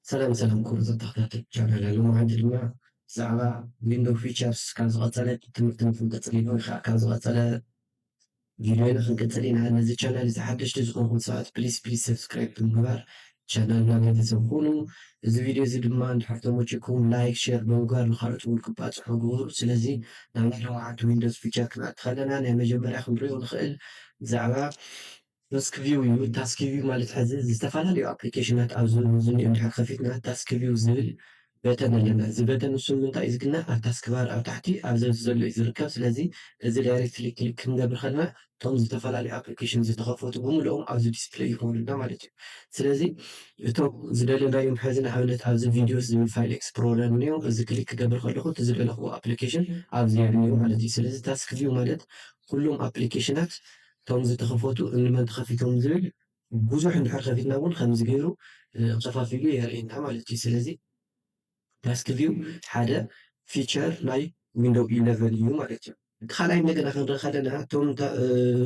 ሰላም ሰላም ኩቡር ተታክታቲ ቻናለይ ሎሚ መዓልቲ ድማ ብዛዕባ ዊንዶ ፊቸርስ ካብ ዝቀጸለ ትምህርቲ ንክንቅጽል ኢሉ ወይከዓ ካብ ዝቀጸለ ቪድዮ ንክንቅጽል ኢና ነዚ ቻናል እዚ ሓደሽቲ ዝኮንኩም ሰባት ፕሊስ ፕሊስ ሰብስክራይብ ብምግባር ቻናልና ቤተሰብ ኩኑ እዚ ቪድዮ እዚ ድማ እንድሕር ተመቺኩም ላይክ ሼር ብምግባር ንካልኦት እውን ክባጽሑ ግበሩ ስለዚ ናብ ናይ ሎሚ መዓልቲ ዊንዶስ ፊቸር ክንኣቲ ከለና ናይ መጀመርያ ክንሪኦ ንክእል ብዛዕባ Taskview እዩ። Taskview ማለት ሕዚ ዝተፈላለዩ ኣፕሊኬሽናት ኣብ ዝኒኦ እንድሕር ከፊትና Taskview ዝብል በተን ኣለና። እዚ በተን ንሱ ንምንታይ እዩ ዝግናዕ ኣብ ታስክባር ኣብ ታሕቲ ኣብ ዘዚ ዘሎ እዩ ዝርከብ። ስለዚ እዚ ዳይሬክትሊ ክሊክ ክንገብር ከለና እቶም ዝተፈላለዩ ኣፕሊኬሽን ዝተኸፈቱ ብምልኦም ኣብዚ ዲስፕለይ ይኾኑልና ማለት እዩ። ስለዚ እቶም ዝደለናዮም ሕዚ ንኣብነት ኣብዚ ቪድዮስ ዝብል ፋይል ኤክስፕሎረር እኒኦ እዚ ክሊክ ክገብር ከለኹ እቲ ዝደለኹዎ ኣፕሊኬሽን ኣብዚ እኒኦ ማለት እዩ። ስለዚ Taskview ማለት ኩሎም ኣፕሊኬሽናት እቶም ዝተኸፈቱ እንመን ተኸፊቶም ዝብል ብዙሕ እንድሕር ከፊትና እውን ከምዚ ገይሩ ኸፋፊሉ የርእየና ማለት እዩ። ስለዚ ታስክ ቪው ሓደ ፊቸር ናይ ዊንዶው ኢለቨን እዩ ማለት እዩ። እቲ ካልኣይ እንደገና ክንርኢ ከለና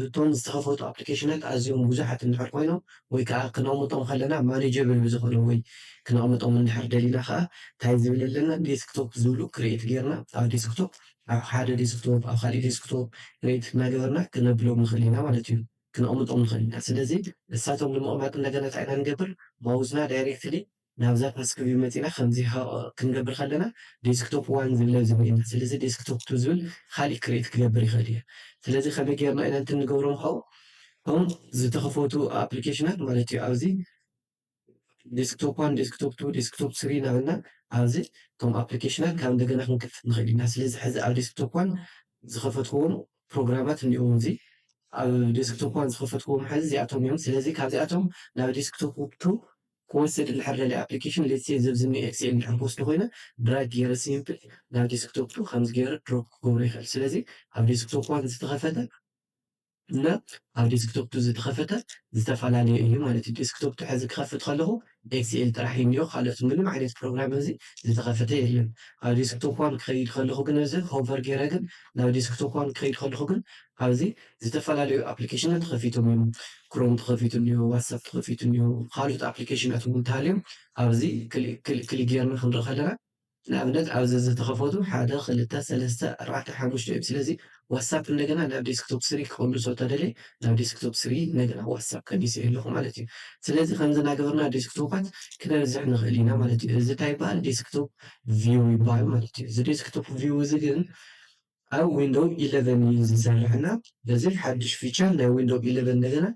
እቶም ዝተኸፈቱ ኣፕሊኬሽናት ኣዝዮም ብዙሓት እንድሕር ኮይኖም ወይ ከዓ ክነቕምጦም ከለና ማኔጀብል ብዝኾነ ወይ ክነቕምጦም እንድሕር ደሊና ከዓ እንታይ ዝብል ኣለና ዴስክቶፕ ዝብሉ ክሪኤት ገይርና ኣብ ዴስክቶፕ ኣብ ሓደ ዴስክቶፕ ኣብ ካሊእ ዴስክቶፕ ክሬት እናገበርና ክነብሎም ንኽእል ኢና ማለት እዩ ክነቕምጦም ንኽእል ኢና ስለዚ ንሳቶም ንምቕማጥ እንደገና እንታይ ኢና ንገብር ማውዝና ዳይሬክትሊ ናብዛ ታስክ ቪው መፂና ከምዚ ክንገብር ከለና ዴስክቶፕ ዋን ዝብለ እዚ ሪኢና ስለዚ ዴስክቶፕ ቱ ዝብል ካሊእ ክሬት ክገብር ይኽእል እየ ስለዚ ከመይ ገይርና ኢና እንትን ንገብሮም ኻብኡ እቶም ዝተኸፈቱ ኣፕሊኬሽናት ማለት እዩ ኣብዚ ዴስክቶፕ ዋን፣ ዴስክቶፕ ቱ፣ ዴስክቶፕ ስሪ እናበልና ኣብዚ እቶም ኣፕሊኬሽናት ካብ እንደገና ክንከፍት ንኽእል ኢና። ስለዚ ሕዚ ኣብ ዴስክቶፕ ዋን ዝኸፈትክዎም ፕሮግራማት እኒኦዉ እዚ ኣብ ዴስክቶፕ ዋን ዝኸፈትክዎም ሕዚ እዚኣቶም እዮም። ስለዚ ካብዚኣቶም ናብ ዴስክቶፕ ቱ ክወስድ እንድሕር ደልየ ኣፕሊኬሽን ሌትስ ሴይ እዚ ኣብዚ እኒኦ ኤክስኤል እንድሕር ክወስዶ ኮይነ ድራግ ገይረ ሲምፕል ናብ ዴስክቶፕ ቱ ከምዚ ገይረ ድሮፕ ክገብሮ ይኽእል። ስለዚ ኣብ ዴስክቶፕ ዋን ዝተኸፈተ እና ኣብ ዴስክቶፕ ቱ ዝተኸፈተ ዝተፈላለየ እዩ ማለት እዩ። ዴስክቶፕ ቱ ሕዚ ክኸፍት ከለኹ ኤክስኤል ጥራሕ እዩ እኒኦ ካልኦት ምንም ዓይነት ፕሮግራም እዚ ዝተኸፈተ የለን። ኣብ ዴስክቶፕ ዋን ክኸይድ ከለኹ ግን እዚ ሆቨር ጌረ ግን ናብ ዴስክቶፕ ዋን ክኸይድ ከለኹ ግን ኣብዚ ዝተፈላለዩ ኣፕሊኬሽናት ተኸፊቶም እዮም። ክሮም ተኸፊቱ እኒኦ፣ ዋትሳፕ ተኸፊቱ እኒኦ፣ ካልኦት ኣፕሊኬሽናት እውን እንተሃልዮም ኣብዚ ክሊክ ጌርና ክንርኢ ከለና ንኣብነት ኣብዚ ዝተኸፈቱ ሓደ ክልተ ሰለስተ ኣርባዕተ ሓሙሽተ እዮም ስለዚ ዋትሳፕ እንደገና ናብ ዴስክቶፕ ስሪ ክቅልሶ ተደልየ ናብ ዴስክቶፕ ስሪ እንደገና ዋትሳፕ ቀኒሰዮ ኣለኹ ማለት እዩ ስለዚ ከምዚ እናገበርና ዴስክቶፓት ክነብዝሕ ንኽእል ኢና ማለት እዩ እዚ እንታይ ይበሃል ዴስክቶፕ ቪው ይበሃል ማለት እዩ እዚ ዴስክቶፕ ቪው እዚ ግን ኣብ ዊንዶው ኢለቨን እዩ ዝሰርሕ እና በዚ ሓዱሽ ፊቸር ናይ ዊንዶው ኢለቨን እንደገና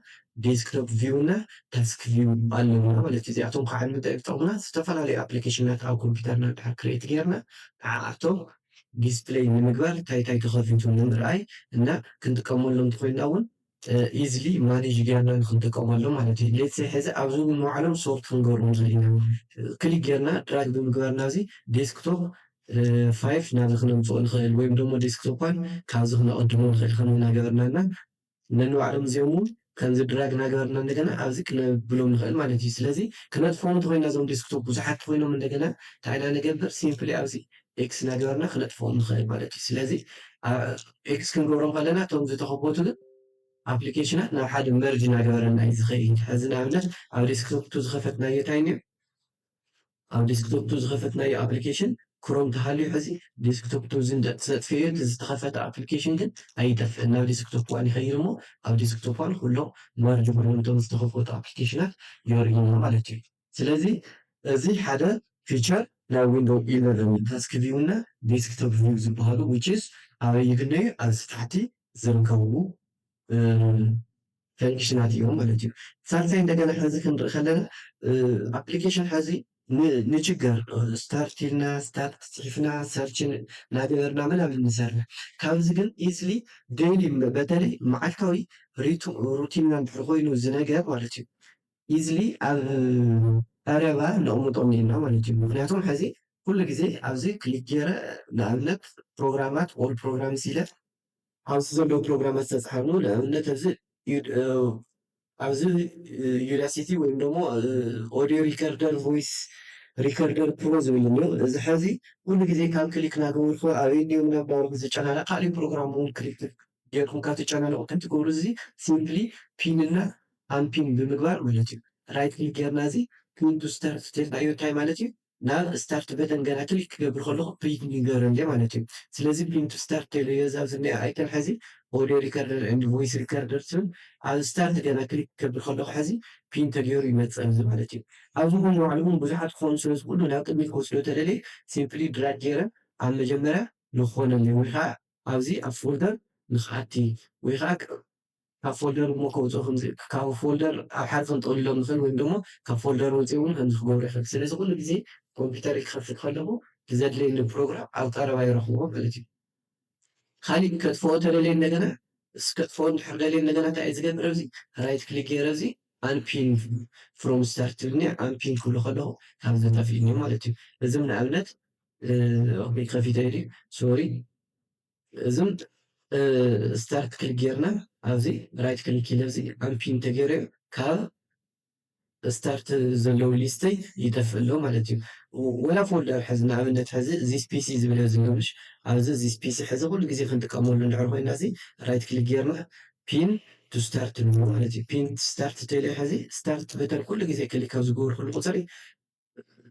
ዴስክቶፕ ቪው እና ታስክ ቪው ኣለውና ማለት እዩ እዚኣቶም ከዓ ንምንታይ እዮም ዝጠቕሙና ዝተፈላለዩ ኣፕሊኬሽናት ኣብ ኮምፒተርና ድሕር ክሬት ጌርና ንዓኣቶም ዲስፕለይ ንምግባር ታይ ታይ ተኸፊቱ ንምርኣይ እና ክንጥቀመሎም ተኾይንና እውን ኢዝሊ ማኔጅ ጌርና ንክንጥቀመሎም ማለት እዩ ሌትስ ሰይ ሕዚ ኣብዚ እውን መውዓሎም ሶርት ክንገብሮም ዘለና ክሊክ ጌርና ድራግ ብምግባር ናብዚ ዴስክቶፕ ፋይፍ ናብዚ ክነምፅኦ ንኽእል ወይም ደሞ ዴስክቶፕ ዋን ካብዚ ክነቕድሞ ንኽእል ከምኡ እናገበርና እና ነንባዕሎም እዚኦም እውን ከምዚ ድራግ እናገበርና እንደገና ኣብዚ ክነብሎም ንኽእል ማለት እዩ ስለዚ ክነጥፍኦም እንተኮይና እዞም ዴስክቶፕ ብዙሓት ተኮይኖም እንደገና እንታይ ኢና ንገብር ሲምፕሊ ኣብዚ ኤክስ እናገበርና ክነጥፍኦም ንኽእል ማለት እዩ ስለዚ ኤክስ ክንገብሮም ከለና እቶም ዝተኸፈቱ ግን ኣፕሊኬሽናት ናብ ሓደ መርጅ እናገበረልና እዩ ዝኸይድ። ሕዚ ንኣብነት ኣብ ዴስክቶፕ ቱ ዝኸፈትናዮ እንታይ እኒኦ? ኣብ ዴስክቶፕ ቱ ዝኸፈትናዮ ኣፕሊኬሽን ክሮም ተሃልዩ ሕዚ ዴስክቶፕ ቱ እዚ እንተተሰጥፈዮ እቲ ዝተኸፈተ ኣፕሊኬሽን ግን ኣይጠፍእን ናብ ዴስክቶፕ ዋን ይኸይድ እሞ ኣብ ዴስክቶፕ ዋን ኩሎም መርጅ ኩሎም እቶም ዝተኸፈቱ ኣፕሊኬሽናት የርእዩና ማለት እዩ። ስለዚ እዚ ሓደ ፊቸር ናይ ዊንዶው ኢለቨን ታስክ ቪው እና ዴስክቶፕ ቪው ዝበሃሉ which is ኣበይ ይግነዩ ኣብዚ ታሕቲ ዝርከቡ ፈንክሽናት እዮም ማለት እዩ። ሳልሳይ እንደገና ሕዚ ክንርኢ ከለና ኣፕሊኬሽን ሕዚ ንችገር ስታርት ኢልና ስታርት ፅሒፍና ሰርች እናገበርና ምናምን ንሰርሕ ካብዚ ግን ኢዝሊ ዴይሊ በተለይ መዓልታዊ ሩቲንና እንድሕር ኮይኑ እዚ ነገር ማለት እዩ ኢዝሊ ኣብ ቀረባ ነቅምጦም ኢልና ማለት እዩ ምክንያቱም ሐዚ ኩሉ ግዜ ኣብዚ ክሊክ ገይረ ንኣብነት ፕሮግራማት ኦል ፕሮግራምስ ኢለ ኣብዚ ዘለዉ ፕሮግራማት ዝተፅሓፍሉ ንኣብነት ኣብዚ ኣብዚ ዩዳሲቲ ወይም ደሞ ኦዲዮ ሪከርደር ቮይስ ሪከርደር ፕሮ ዝብል እኒኦ እዚ ሐዚ ኩሉ ግዜ ካብ ክሊክ ናገበርኩ ኣበይ እኒኦ ምናባልኩ ዝጨናነቅ ካሊእ ፕሮግራም እውን ክሊክ ጌርኩም ካብ ትጨናነቁ እንታይ ትገብሩ እዚ ሲምፕሊ ፒን እና ኣንፒን ብምግባር ማለት እዩ ራይት ክሊክ ጌርና እዚ ፕሪንት ቱ ስታርት ተልናዮ እንታይ ማለት እዩ ናብ ስታርት በተን ገና ክሊክ ክገብር ከለኩ ፕሪንት ንገሮ እንድየ ማለት እዩ ስለዚ ፕሪንት ቱ ስታርት ተልዮ እዛ ኣብዚ ዝኒኣ ኣይከን ሐዚ ኦድዮ ሪከርደር ኤንድ ቮይስ ሪከርደር ትብል ኣብ ስታርት ገና ክሊክ ክገብር ከለኩ ሐዚ ፕሪንት ተገይሩ ይመፀኒ ማለት እዩ ኣብዚ እውን ንባዕሉ እውን ብዙሓት ክኮኑ ስለ ዝክእሉ ናብ ቅድሚት ክወስዶ ተደልየ ሲምፕሊ ድራግ ጌረ ኣብ መጀመርያ ንክኮነለይ ወይ ከዓ ኣብዚ ኣብ ፎልደር ንክኣቲ ወይ ከዓ ካብ ፎልደር እሞ ከውጽኦ ከምዚ ካብ ፎልደር ኣብ ሓደ ከንጠውልሎ ንኽእል ወይም ደሞ ካብ ፎልደር ወጺኡ ውን ከምዚ ክገብሮ ይኽእል። ስለዚ ኩሉ ግዜ ኮምፒተረይ ክኸፍት ከለኹ ብዘድልየኒ ፕሮግራም ኣብ ቀረባ ይረኽቦ ማለት እዩ። ካሊእ ግን ከጥፍኦ ተደልየ እንደገና እስ ከጥፍኦ እንድሕር ደልየ እንደገና እንታይ እየ ዝገብር ኣብዚ ራይት ክሊክ ጌረ እዚ ኣንፒን ፍሮም ስታርት ትብልኒ እያ ኣንፒን ክብሎ ከለኹ ካብዚ ተጠፊእኒ ማለት እዩ። እዚም ንኣብነት ኦኬ ከፊተዮ ድዩ ሶሪ እዝም ስታርት ክሊክ ጌርና ኣብዚ ራይት ክሊክ ኢለ እዚ ኣምፒን ተገይረዮ ካብ ስታርት ዘለዉ ሊስተይ ይጠፍእ ኣሎ ማለት እዩ ወላ ፎልደር ሕዚ ንኣብነት ሕዚ እዚ ስፔሲ ዝብል ዝሎምሽ ኣብዚ እዚ ስፔሲ ሕዚ ኩሉ ግዜ ክንጥቀመሉ እንድሕር ኮይና እዚ ራይት ክሊክ ጌርና ፒን ቱ ስታርት ንብሎ ማለት እዩ ፒን ስታርት ተለ ሕዚ ስታርት በተን ኩሉ ግዜ ክሊክ ኣብ ዝገብርኩሉ ቁፅሪ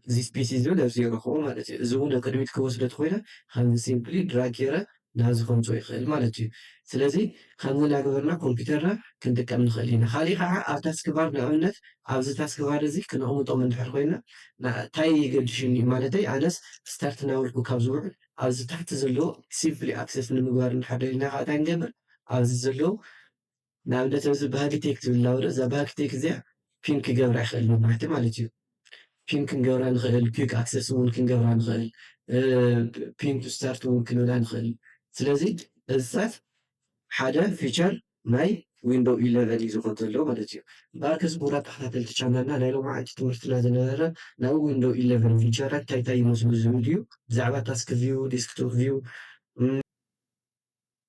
እዚ ስፔሲ ዝብል ኣብዚ ይረኽቦ ማለት እዩ። እዚ እውን ንቅድሚት ክወስዶ ተኾይነ ኸዚ ሲምፕሊ ድራግ ገይረ ናብዚ ከምፅኦ ይኽእል ማለት እዩ። ስለዚ ኸምዚ እናገበርና ኮምፒተርና ክንጥቀም ንኽእል ኢና። ኻሊእ ኸዓ ኣብ ታስክ ባር ንኣብነት ኣብዚ ታስክ ባር እዚ ክነቅምጦም እንድሕር ኾይና ታይ የገድሽኒ ማለተይ ኣነስ ስታርት እናበልኩ ካብ ዝውዕል ኣብዚ ታሕቲ ዘሎ ሲምፕሊ ኣክሰስ ንምግባር እንድሕር ደሊና ኸዓ ታይ ንገብር ኣብዚ ዘለው ንኣብነት ኣብዚ ባህግቴክ ትብል ኣላ ወረ እዛ ባህግቴክ እዚኣ ፒን ክገብራ ይክእል መብራህቲ ማለት እዩ ፒን ክንገብራ ንክእል ኪክ ኣክሰስ እውን ክንገብራ ንክእል ፒን ቱ ስታርት እውን ክንብላ ንክእል ስለዚ እዚታት ሓደ ፊቸር ናይ ዊንዶው ኢለቨን እዩ ዝኾን ዘሎ ማለት እዩ ባርክስ ክቡራት ተኸታተልቲ ቻናልና ናይ ሎማዓንቲ ትምህርትና ዝነበረ ናይ ዊንዶው ኢለቨን ፊቸራት እንታይ እንታይ ይመስሉ ዝብል እዩ ብዛዕባ ታስክ ቪው ዲስክቶፕ ቪው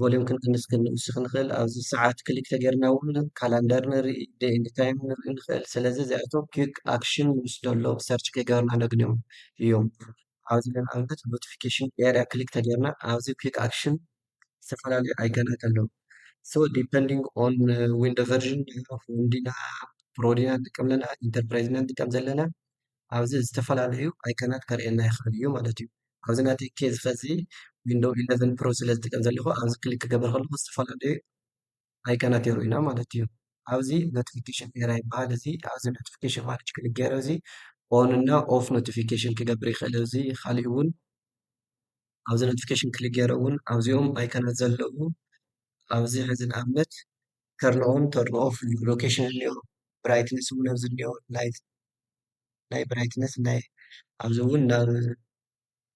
ቮሊዩም ክንቅንስ ክንውስኽ ንኽእል ኣብዚ ሰዓት ክሊክ ተገርና እውን ካላንደር ንርኢ ዴይ ኤንድ ታይም ንርኢ ንኽእል ስለዚ እዚኣቶም ኪክ ኣክሽን ንውስደሎ ሰርች ከይገበርና ነግንዮም እዮም ኣብዚ ንኣብነት ኖቲፊኬሽን ኤርያ ክሊክ ተገርና ኣብዚ ኪክ ኣክሽን ዝተፈላለዩ ኣይከናት ኣለዉ ሶ ዲፐንዲንግ ኦን ዊንዶ ቨርዥን ሆም ዲና ፕሮ ዲና ንጥቀም ኣለና ኢንተርፕራይዝ ኢና ንጥቀም ዘለና ኣብዚ ዝተፈላለዩ ኣይከናት ከርእየና ይኽእል እዩ ማለት እዩ። ኣብዚ ናተይ ኬዝ ኸዚ ዊንዶው ኢለቨን ፕሮ ስለ ዝጥቀም ዘለኹ ኣብዚ ክሊክ ክገብር ከለኹ ዝተፈላለዩ ኣይከናት የርእዩና ማለት እዩ። ኣብዚ ኖቲፊኬሽን ኤራ ይበሃል እዚ ኣብዚ ኖቲፊኬሽን ማለት ክሊክ ገይረ እዚ ኦን እና ኦፍ ኖቲፊኬሽን ክገብር ይኽእል እዚ ካሊእ እውን ኣብዚ ኖቲፊኬሽን ክሊክ ገይረ እውን ኣብዚኦም ኣይከናት ዘለዉ ኣብዚ ሕዚ ንኣብነት ከርንኦን ተርንኦ ፍሉይ ሎኬሽን እኒኦ ብራይትነስ እውን ኣብዚ እኒኦ ላይት ናይ ብራይትነስ ናይ ኣብዚ እውን ናብ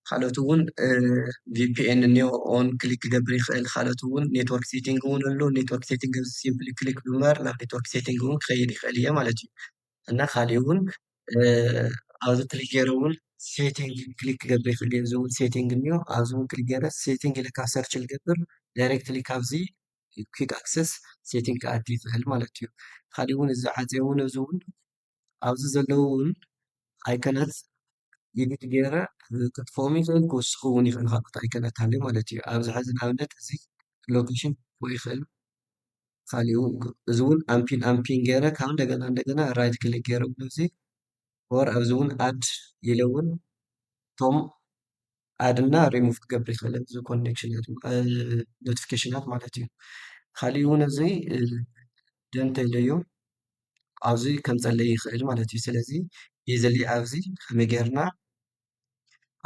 ካልኦት እውን ቪፒኤን እኒኦ ኦን ክሊክ ክገብር ይኽእል ካልኦት እውን ኔትወርክ ሴቲንግ እውን ኣሎ ኔትወርክ ሴቲንግ ኣብዚ ሲምፕሊ ክሊክ ብምባር ናብ ኔትወርክ ሴቲንግ እውን ክኸይድ ይኽእል እየ ማለት እዩ እና ካሊእ እውን ኣብዚ ክሊክ ገይረ እውን ሴቲንግ ክሊክ ክገብር ይኽእል እየ እዚ እውን ሴቲንግ እኒኦ ኣብዚ እውን ክሊክ ገይረ ሴቲንግ ኢለ ካብ ሰርች ልገብር ዳይሬክትሊ ካብዚ ኪዩክ ኣክሰስ ሴቲንግ ክኣቲ ይኽእል ማለት እዩ። ካሊእ እውን እዚ ዓፄ እውን እዚ እውን ኣብዚ ዘለዉ እውን ኣይከናት ኤዲት ገይረ ከጥፍኦም ይኽእል ክውስኹ እውን ይኽእል ካልኦት ኣይከናት ሃልዩ ማለት እዩ። ኣብዚ ሕዚ ንኣብነት እዚ ሎኬሽን ክህልዎ ይኽእል ካሊኡ እዚ እውን ኣምፒን ኣምፒን ገይረ ካብ እንደገና እንደገና ራይት ክሊክ ገይረ እውን እዚ ወር ኣብዚ እውን ኣድ ኢለ እውን እቶም ኣድ እና ሪሙቭ ክትገብሪ ይክእለ እዚ ኮኔክሽናት ኖቲፊኬሽናት ማለት እዩ ካሊእ እውን እዚ ደን ተይለዮ ኣብዚ ከምፀለይ ይክእል ማለት እዩ ስለዚ ኢዝሊ ኣብዚ ከመይ ጌርና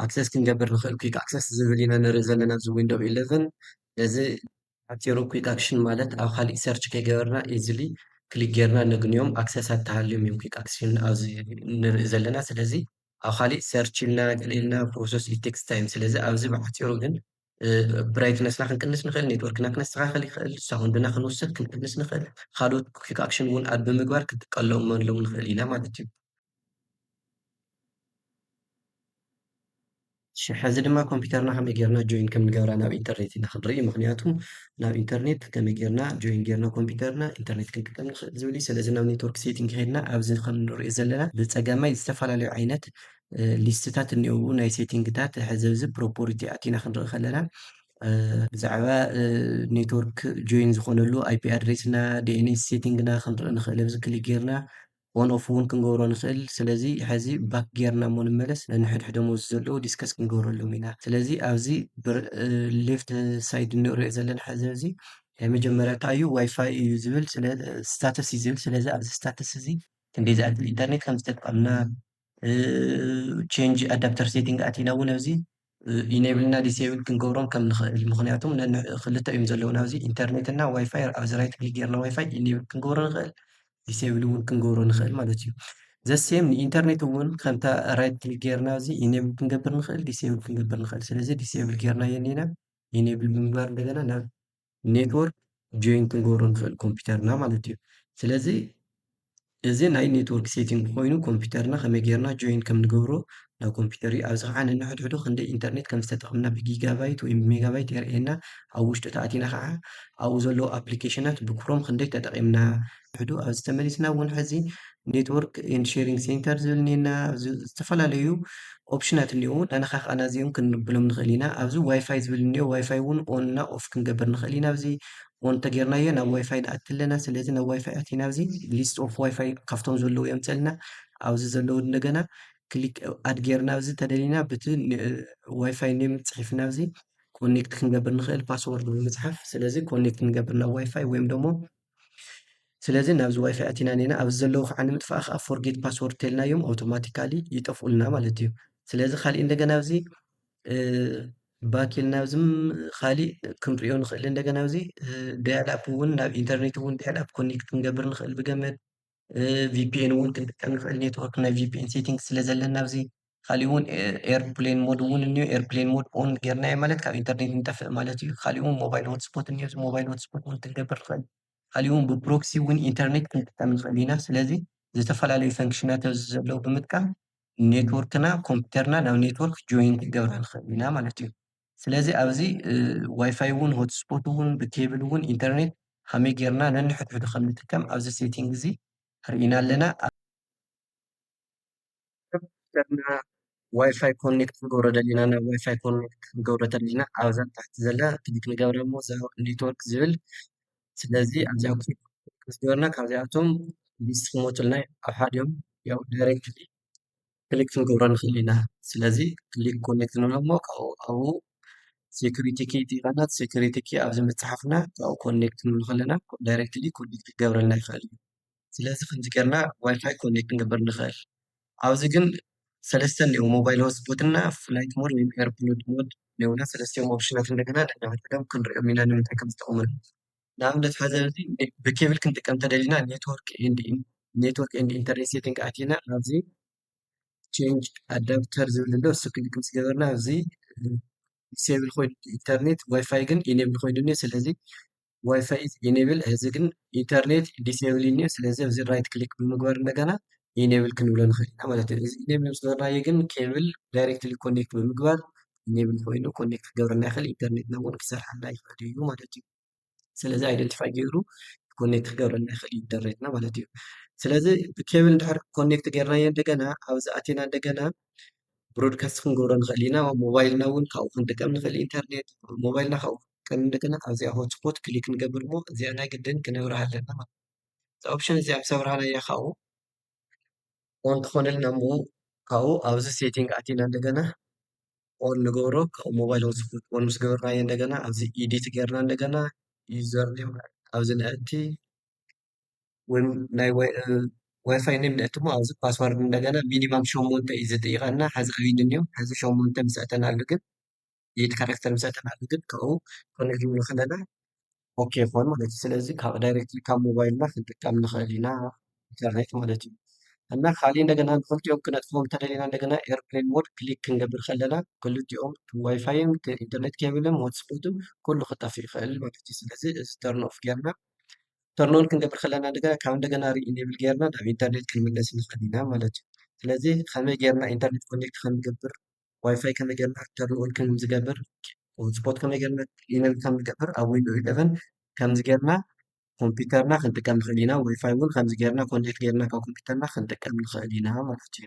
ኣክሰስ ክንገብር ንክእል ኪክ ኣክሰስ ዝብል ኢና ንርኢ ዘለና ኣብዚ ዊንዶ ኢለቨን ነዚ ሓፂሩ ኪክ ኣክሽን ማለት ኣብ ካሊእ ሰርች ከይገበርና ኢዝሊ ክሊክ ጌርና ነግንዮም ኣክሰሳት ተሃልዮም እዮም ኪክ ኣክሽን ኣብዚ ንርኢ ዘለና ስለዚ ኣብ ካሊእ ሰርች ኢልና ገለ ኢልና ፕሮሰስ ኢት ቴክስ ታይም ስለዚ ኣብዚ ብሓፂሩ ግን ብራይትነስና ክንቅንስ ንኽእል፣ ኔትወርክና ክነስተኻኸል ይኽእል፣ ሳውንድና ክንውስኽ ክንቅንስ ንኽእል፣ ካልኦት ኩክ ኣክሽን እውን ኣድ ብምግባር ክንጥቀለመሎም ንኽእል ኢና ማለት እዩ። እሺ ሐዚ ድማ ኮምፒተርና ከመይ ጌርና ጆይን ከም ንገብራ ናብ ኢንተርኔት ኢና ክንርኢ ምክንያቱ ናብ ኢንተርኔት ከመይ ጌርና ጆይን ጌርና ኮምፒተርና ኢንተርኔት ክንጥቀም ንክእል ዝብል እዩ ስለዚ ናብ ኔትወርክ ሴቲንግ ከይድና ኣብዚ ከም ንሪኦ ዘለና ብፀጋማይ ዝተፈላለዩ ዓይነት ሊስትታት እኒኦው ናይ ሴቲንግታት ሕዚ እዚ ፕሮፖሪቲ ኣቲና ክንርኢ ከለና ብዛዕባ ኔትወርክ ጆይን ዝኾነሉ ኣይፒ ኣድሬስና ዲኤንኤስ ሴቲንግና ክንርኢ ንኽእል ኣብዚ ክሊክ ጌርና ኦን ኦፍ እውን ክንገብሮ ንክእል ስለዚ ሐዚ ባክ ጌርና እሞ ንመለስ ነንሕድሕዶም ኣብዚ ዘለዉ ዲስከስ ክንገብረሎም ኢና ስለዚ ኣብዚ ሌፍት ሳይድ እንሪኦ ዘለና ሐዚ እዚ ናይ መጀመርያ እንታይ እዩ ዋይፋይ እዩ ዝብል ስታተስ እዩ ዝብል ስለዚ ኣብዚ ስታተስ እዚ ክንደይ ዝኣክል ኢንተርኔት ከምዝተጠቀምና ቸንጅ ኣዳፕተር ሴቲንግ ኣቲና እውን ኣብዚ ኢኔብል እና ዲስብል ክንገብሮም ከም ንኽእል ምክንያቱ ክልተ እዮም ዘለውና ኣብዚ ኢንተርኔት እና ዋይፋይ ኣብዚ ራይት ክሊክ ጌርና ዋይፋይ ኢኔብል ክንገብሮ ንኽእል ዲስብል እውን ክንገብሮ ንኽእል ማለት እዩ ዘሴም ንኢንተርኔት እውን ከምታ ራይት ክሊክ ጌርና እዚ ኢኔብል ክንገብር ንኽእል ዲስብል ክንገብር ንኽእል ስለዚ ዲስብል ጌርናዮ እኒና ኢኔብል ብምግባር እንደገና ናብ ኔትወርክ ጆይን ክንገብሮ ንኽእል ኮምፒውተርና ማለት እዩ ስለዚ እዚ ናይ ኔትወርክ ሴቲንግ ኮይኑ ኮምፒውተርና ከመይ ጌርና ጆይን ከም ንገብሮ ናብ ኮምፒውተር እዩ ኣብዚ ከዓ ነንሕድሕዱ ክንደይ ኢንተርኔት ከም ዝተጠቕምና ብጊጋባይት ወይ ብሜጋባይት የርእየና ኣብ ውሽጡ ተኣቲና ከዓ ኣብኡ ዘለዉ ኣፕሊኬሽናት ብክሮም ክንደይ ተጠቒምና ውሕዱ ኣብዚ ተመሊስና እውን ሕዚ ኔትወርክ ኤንድ ሼሪንግ ሴንተር ዝብል እኒኤና ኣብዚ ዝተፈላለዩ ኦፕሽናት እኒአው ናናኻ ከዓ ናዚኦም ክንብሎም ንኽእል ኢና ኣብዚ ዋይፋይ ዝብል እኒኦ ዋይፋይ እውን ኦን እና ኦፍ ክንገብር ንኽእል ኢና ኣብዚ ኦን ተጌርናዮ ናብ ዋይፋይ ንኣቲ ኣለና ስለዚ ናብ ዋይፋይ ኣቲና ኣብዚ ሊስት ኦፍ ዋይፋይ ካብቶም ዘለዉ የምፀልና ኣብዚ ዘለዉ እንደገና ክሊክ ኣድ ጌርና ኣብዚ ተደሊና ብቲ ዋይፋይ ኔም ፅሒፍና ኣብዚ ኮኔክት ክንገብር ንኽእል ፓስወርድ ብምፅሓፍ ስለዚ ኮኔክት ንገብር ናብ ዋይፋይ ወይም ደግሞ ስለዚ ናብዚ ዋይፋይ ኣቲና ኔና ኣብዚ ዘለዉ ከዓ ንምጥፋእ ከዓ ፎርጌት ፓስወርድ ተልናዮም ኣውቶማቲካሊ ይጠፍኡልና ማለት እዩ ስለዚ ካሊእ እንደገና ኣብዚ ባክ ኢልና ኣብዝም ካሊእ ክንሪኦ ንኽእል እንደገና ኣብዚ ዳያል ኣፕ እውን ናብ ኢንተርኔት እውን ዳያል ኣፕ ኮኔክት ክንገብር ንኽእል ብገመድ ቪፒኤን እውን ክንጥቀም ንኽእል ኔትወርክ ናይ ቪፒኤን ሴቲንግ ስለ ዘለና ኣብዚ ካሊእ እውን ኤርፕሌን ሞድ እውን እኒኦ ኤርፕሌን ሞድ ኦን ጌርናዮ ማለት ካብ ኢንተርኔት ንጠፍእ ማለት እዩ ካሊእ እውን ሞባይል ሆትስፖት እኒኦ እዚ ሞባይል ሆትስፖት እውን ክንገብር ንኽእል ካሊእ እውን ብፕሮክሲ እውን ኢንተርኔት ክንጥቀም ንኽእል ኢና ስለዚ ዝተፈላለዩ ፈንክሽናት ኣብዚ ዘለዉ ብምጥቃም ኔትወርክና ኮምፒተርና ናብ ኔትወርክ ጆይን ክንገብራ ንኽእል ኢና ማለት እዩ። ስለዚ ኣብዚ ዋይፋይ እውን ሆትስፖት እውን ብኬብል እውን ኢንተርኔት ከመይ ጌርና ነንሕድሕዱ ከም ንጥቀም ኣብዚ ሴቲንግ እዚ ርኢና ኣለና ጌርና ዋይፋይ ኮኔክት ክንገብሮ ደሊና ናብ ዋይፋይ ኮኔክት ክንገብሮ ደሊና ኣብዛ ታሕቲ ዘላ ክሊክ ንገብረ እሞ ኔትወርክ ዝብል ስለዚ ኣብዚኣ ክሊክ ገርና ካብዚኣቶም ሊስት ክመፁልና ኣብ ሓዲኦም ያው ዳይሬክትሊ ክሊክ ክንገብሮ ንኽእል ኢና ስለዚ ክሊክ ኮኔክት ንብሎ እሞ ካብኡ ኣብኡ ሴኩሪቲ ኪ ይጠይቀና ሴኩሪቲ ኪ ኣብዚ ምፅሓፍና ካብኡ ኮኔክት ክንብሎ ከለና ዳይሬክትሊ ኮኔክት ክገብረልና ይኽእል እዩ ስለዚ ከምዚ ጌርና ዋይፋይ ኮኔክት ክንገብር ንኽእል ኣብዚ ግን ሰለስተ እኒኦ ሞባይል ሆትስፖት እና ፍላይት ሞድ ወይም ኤርፕሎድ ሞድ እኒኦና ሰለስቲኦም ኦፕሽናት እንደገና ነንሕድሕዶም ክንሪኦም ኢና ንምንታይ ከም ዝጠቕሙና ንኣብነት ሐዚ ብኬብል ክንጥቀም እንተደሊና ኔትወርክ ኤንድ ኢንተርኔት ሴቲንግ ኣቲና ኣብዚ ቼንጅ ኣዳብተር ዝብል ኣሎ እሱ ክሊክ ምስ ገበርና ኣብዚ ዲስብል ኮይኑ ኢንተርኔት ዋይፋይ ግን ኢኔብል ኮይኑ እኒኦ ስለዚ ዋይፋይ ኢኔብል እዚ ግን ኢንተርኔት ዲስብል እኒኦ ስለዚ ኣብዚ ራይት ክሊክ ብምግባር እንደገና ኢኔብል ክንብሎ ንኽእል ኢና ማለት እዩ እዚ ኢኔብል ምስ ገበርናዮ ግን ኬብል ዳይሬክትሊ ኮኔክት ብምግባር ኢኔብል ኮይኑ ኮኔክት ክገብረና ይኽእል ኢንተርኔትና እውን ክሰርሓልና ይኽእል እዩ ማለት እዩ ስለዚ ኣይደንቲፋይ ገይሩ ኮኔክት ክገብረልና ይኽእል እዩ ኢንተርኔትና ማለት እዩ። ስለዚ ብኬብል እንድሕር ኮኔክት ገይርናዮ እንደገና ኣብዚ ኣቲና እንደገና ብሮድካስት ክንገብሮ ንኽእል ኢና። ሞባይልና እውን ካብኡ ክንጥቀም ንኽእል ኢንተርኔት ሞባይልና ካብኡ ክንጥቀም እንደገና ኣብዚኣ ሆትስፖት ክሊክ ንገብር እሞ እዚኣ ናይ ግድን ክነብርሃ ኣለና ማለት እዛ ኦፕሽን እዚኣ ምስ ኣብርሃናያ ካብኡ ኦን ትኾነልና እሞ ካብኡ ኣብዚ ሴቲንግ ኣቲና እንደገና ኦን ንገብሮ ካብኡ ሞባይል ወሲድና ኦን ምስ ገበርናዮ እንደገና ኣብዚ ኤዲት ጌርና እንደገና ዩዘር ኔም ኣብዚ ነእቲ ወይም ናይ ዋይፋይ ኔም ነእቲ እሞ ኣብዚ ፓስወርድ እንደገና ሚኒማም ሸሞንተ እዩ ዝጥይቐና ሐዚ ኣበይ ንኒኦ ሐዚ ሸሞንተ ምስ ኣእተናሉ ግን ኤይት ካራክተር ምስ ኣእተናሉ ግን ካብኡ ኮኔክት ክንብል ከለና ኦኬ ይኾን ማለት እዩ። ስለዚ ካብ ዳይሬክትሊ ካብ ሞባይልና ክንጥቀም ንኽእል ኢና ኢንተርኔት ማለት እዩ። እና ካልእ እንደገና ንክልቲኦም ክነጥፍኦም እንተደሊና እንደገና ኤርፕሌን ሞድ ክሊክ ክንገብር ከለና ክልቲኦም ዋይፋይን ኢንተርኔት ኬብልን ሆትስፖትን ኩሉ ክጠፍእ ይኽእል ማለት እዩ። ስለዚ እዚ ተርን ኦፍ ጌርና ተርን ኦን ክንገብር ከለና እንደገና ካብ እንደገና ሪኢኔብል ጌርና ናብ ኢንተርኔት ክንምለስ ንኽእል ኢና ማለት እዩ። ስለዚ ከመይ ጌርና ኢንተርኔት ኮኔክት ከም ንገብር ዋይፋይ ከመይ ጌርና ከም ልዑል ከም ዝገብር ሆትስፖት ከመይ ጌርና ኢነብል ከም ዝገብር ኣብ ዊንዶ ኢለቨን ከምዚ ጌርና ኮምፒውተርና ክንጥቀም ንኽእል ኢና ዋይፋይ እውን ከምዚ ጌርና ኮኔክት ጌርና ካብ ኮምፒውተርና ክንጥቀም ንኽእል ኢና ማለት እዩ።